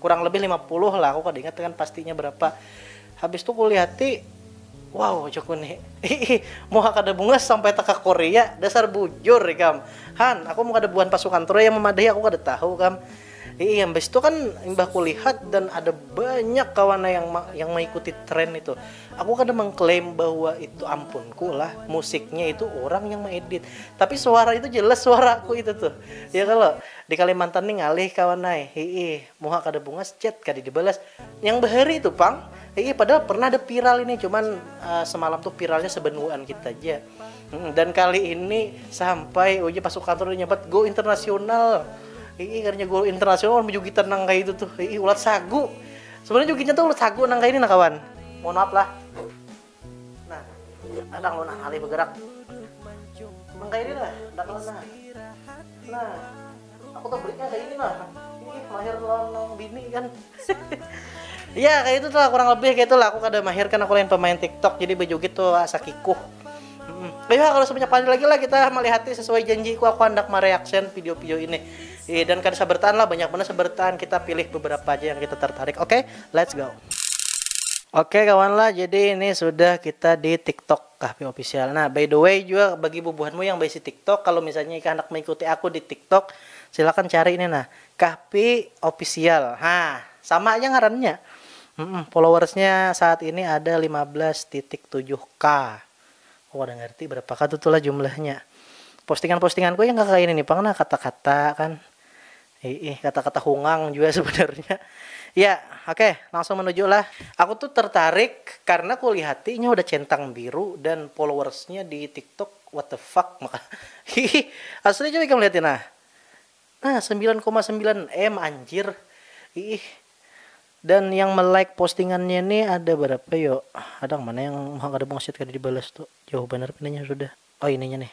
kurang lebih 50 lah aku kada ingat dengan pastinya berapa habis tu kulihati wow jaku ni ih muha kada bungas sampai taka korea dasar bujur ikam han aku mun kada buhan pasukan troya memadahi aku kada tahu kam ih habis tu kan imbah kulihat dan ada banyak kawan lah yang yang mengikuti tren itu aku kada mengklaim bahwa itu ampunku lah musiknya itu orang yang mengedit tapi suara itu jelas suaraku itu tuh ya kalau Di Kalimantan ni ngalih kawan ai, hiih, muha kada bungas, chat kada dibalas, yang bahari tu pang, hiih, padahal pernah ada viral ini, cuman semalam tu viralnya sebenuaan kita ja, hiih, dan kali ini sampai ujar pas sukanto udah nyambat go internasional, hiih, kadanya go internasional wan bejugitan nang kaitu tuh, hiih, ulat sagu, sebenarnya jugitnya tu ulat sagu nang kaini nah kawan, mohon maaf lah. Nah, kadang lo nah ngalih begerak. Nang kaya ini nah, nang kaya nah. Nah, aku tuh beriknya kaya ini nah. Ih, mahir lawan nang bini kan. Iya kayak itu tuh kurang lebih kayak itu lah aku kada mahir kan aku lain pemain TikTok jadi bejugit tuh asa kikuh. Hmm. Ya kalau sebanyak kali lagi lah kita melihat sesuai janjiku aku hendak mereaction video-video ini. Iya dan kada sabar lah banyak benar sabar kita pilih beberapa aja yang kita tertarik. Oke, okay? let's go. Oke kawan lah, jadi ini sudah kita di tiktok Kahfi Official. Nah, by the way juga bagi bubuhanmu yang baisi tiktok, kalau misalnya ikam handak mengikuti aku di tiktok, silakan cari ini nah, Kahfi Official. Ha, sama aja ngarannya. Mm-mm, followersnya saat ini ada lima belas titik tujuh k. Aku kada ngerti berapa ka tu tuh lah jumlahnya. Postingan-postinganku ya nggak kaya ini nih pang nah, kata-kata kan. Hiih kata-kata hungang jua sebenarnya. Ya, oke, langsung menuju lah. Aku tuh tertarik karena kulihati inya udah centang biru dan followersnya di tiktok what the fuck maka hiih asli coba ikam lihatin nah nah 9,9 m anjir hiih dan yang melike postingannya ini ada berapa yo ada yang mana yang mau kada bungsit kada dibalas tuh jauh benar pinanya sudah oh ininya nih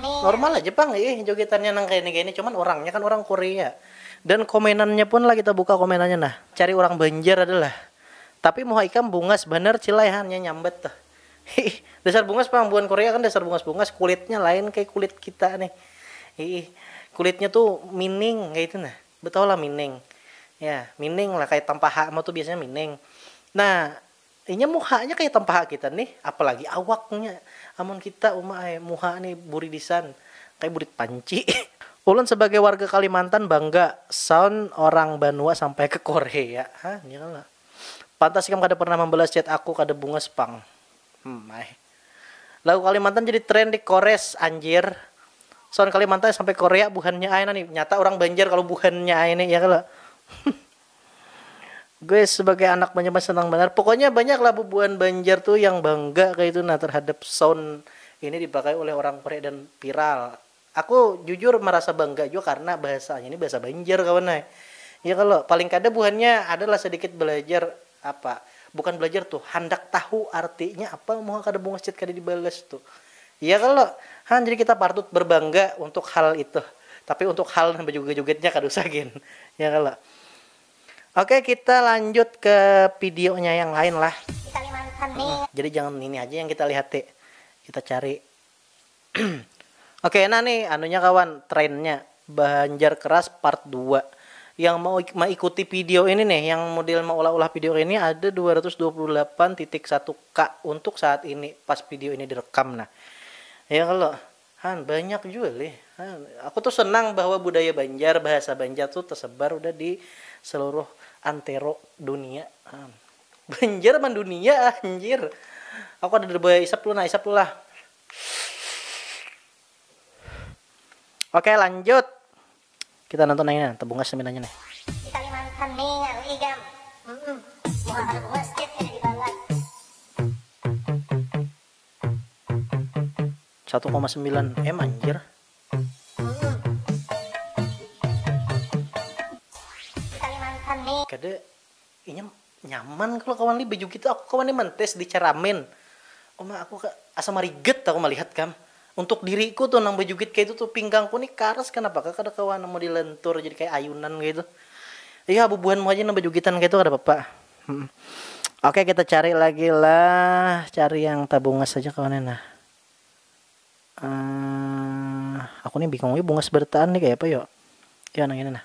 Normal aja pang ih jogetannya nang kaini kaini cuman orangnya kan orang korea dan komenannya pun lah kita buka komenannya nah cari orang banjar ada lah tapi muha ikam bungas banar cilai ha nya nyambat tuh hiih dasar bungas pang buhan korea kan dasar bungas bungas kulitnya lain kaya kulit kita nih hiih kulitnya tuh mining kaitu nah. Betau lah mining. Ya, mining lah kaya tampaha ma tu biasanya mining. Nah, inya muhanya kaya tampaha kita nih, apalagi awaknya. Amun kita, uma ai, muha ni buridisan, kaya burit panci. Ulun sabagai warga Kalimantan bangga sound orang banua sampai ke Korea. Hah, nya kalo. Pantas ikam kada pernah mambalas chat aku kada bungas pang. Hmmm ai. Lagu Kalimantan jadi trend di Kores anjir. Sound Kalimantan sampai Korea buhannya ai nani. Nyata orang Banjar kalau buhannya ai nih ya kalau. Gue sebagai anak Banjar masih senang banar. Pokoknya banyak lah bubuhan Banjar tuh yang bangga kayak itu nah terhadap sound ini dipakai oleh orang Korea dan viral. Aku jujur marasa bangga jua karna bahasanya ni bahasa Banjar kawan ai. Ya kalo? Paling kada buhannya ada lah sadikit balajar apa, bukan balajar tuh, handak tahu artinya apa muha kada bungas chat kada dibalas tuh. Ya kalo? Ha, jadi kita partut berbangga untuk hal itu. Tapi untuk hal nang bajugat-jugatnya kada usah gin. Ya kalo? Oke, kita lanjut ke pidionya yang lain lah. Jadi jangan ini haja yang kita lihati. Kita cari. Oke nah nih anunya kawan trainnya Banjar Keras part dua yang mau maikuti video ini nih yang model maulah-ulah video ini ada 228.1k untuk saat ini pas video ini direkam nah ya kalau han banyak juga lih han. aku tuh senang bahwa budaya Banjar bahasa Banjar tuh tersebar udah di seluruh antero dunia han. Banjar mendunia anjir aku ada dua isap lu nah isap lu lah Oke lanjut. Kita nonton yang ini, tebungas nih nanya nih. Kalimantan ningal igam. Mm Satu koma sembilan m anjir. Kalimantan nih. Kade Inya nyaman kalo kawan lih baju gitu, aku kawan nih mantes di ceramin. Uma aku asa marigat aku malihat kam. Untuk diriku tuh nang bajukit kaitu tuh pinggangku nih karas kanapa kah kada kawa nang modil lentur jadi kaya ayunan kaitu. Iyo bubuhanmu haja nang bajukitan kaitu kada papa. Humm. Oke kita cari lagi lah, cari yang tabungas haja kawan nih nah. Aahh aku nih bingung lih bungas barataan nih kaya apa yo. Iyo nang ini nah.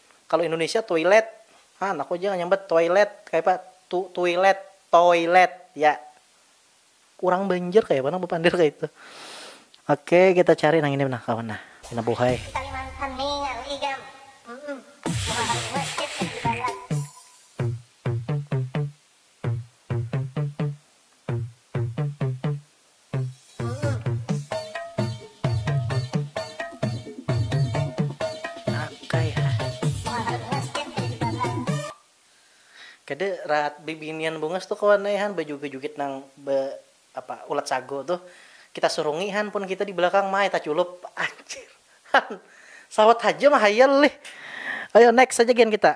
Kalo Indonesia toilet, ha anakku ja nyambat toilet kayapa tu tuilet, toilet ya. Urang Banjar kayapa nang bapander kayatu. Oke kita cari nang ini nah kawan nah, pina buhay. Di Kalimantan ningal igam. Mahal masjid nya di barat. Kada rahat bibinian bungas tu kawan ai han bajugit-jugit nang be apa ulat sagu tuh kita surungi han pun kita di belakang maai taculup anjir han sawat haja mahayal lih ayo next aja gen kita.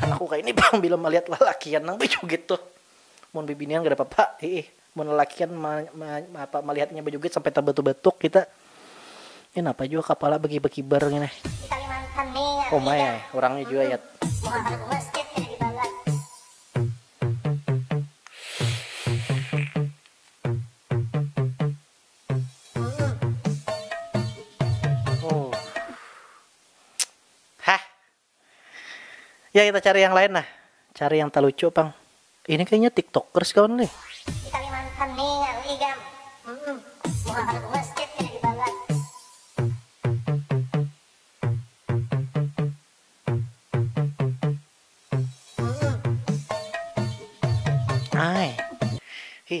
Anakku kaini pang bila malihat lalakian nang bajugit tuh. Mun bibinian kada papa, hiih. Mun lalakian ma ma apa malihat inya bajugit sampai tabatuk-batuk kita, ih napa jua kapala bakibar-kibar ngini. Uma ai, urangnya jua yat. Ya kita cari yang lain nah. Cari yang talucu pang. Ini kayaknya tiktokers kawan nih. Di Kalimantan nih ngaru igam. Hmm, muha kada ke masjid kena dibalas. Hmm. Ai. Hi,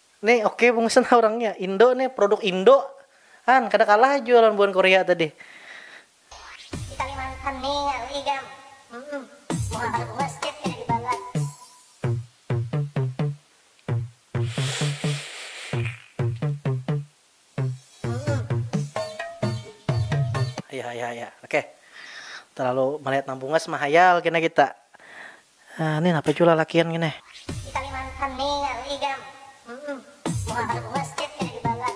Nih oke bungsan ha urangnya, indo nih produk indo an kada kalah jua lawan buhan korea tadi. Di kalimantan ni ngalih ikam humm muha kada puas chat kada dibalas. Ayah ayah ayah oke terlalu melihat nang bungas mah hayal kena kita ah nih napa jua lalakian gin eh. Di kalimantan nih ngarui ikam humm muha kada bungas chat kada dibalas.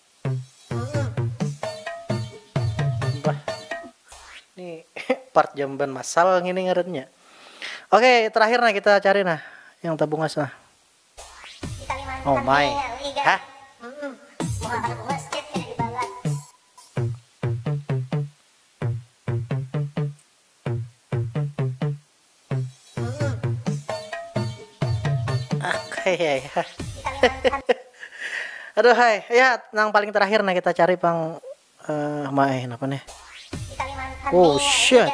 Ini part jamban masal ngini ngarannya. Oke, terakhir nah kita cari nah yang tabungas nah. Oh my. Hah? Aduhai ya nang paling terakhir nah kita cari pang uh, ma eh napa nih oh shit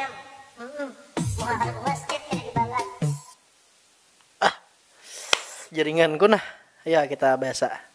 ah jaringanku nah ya kita biasa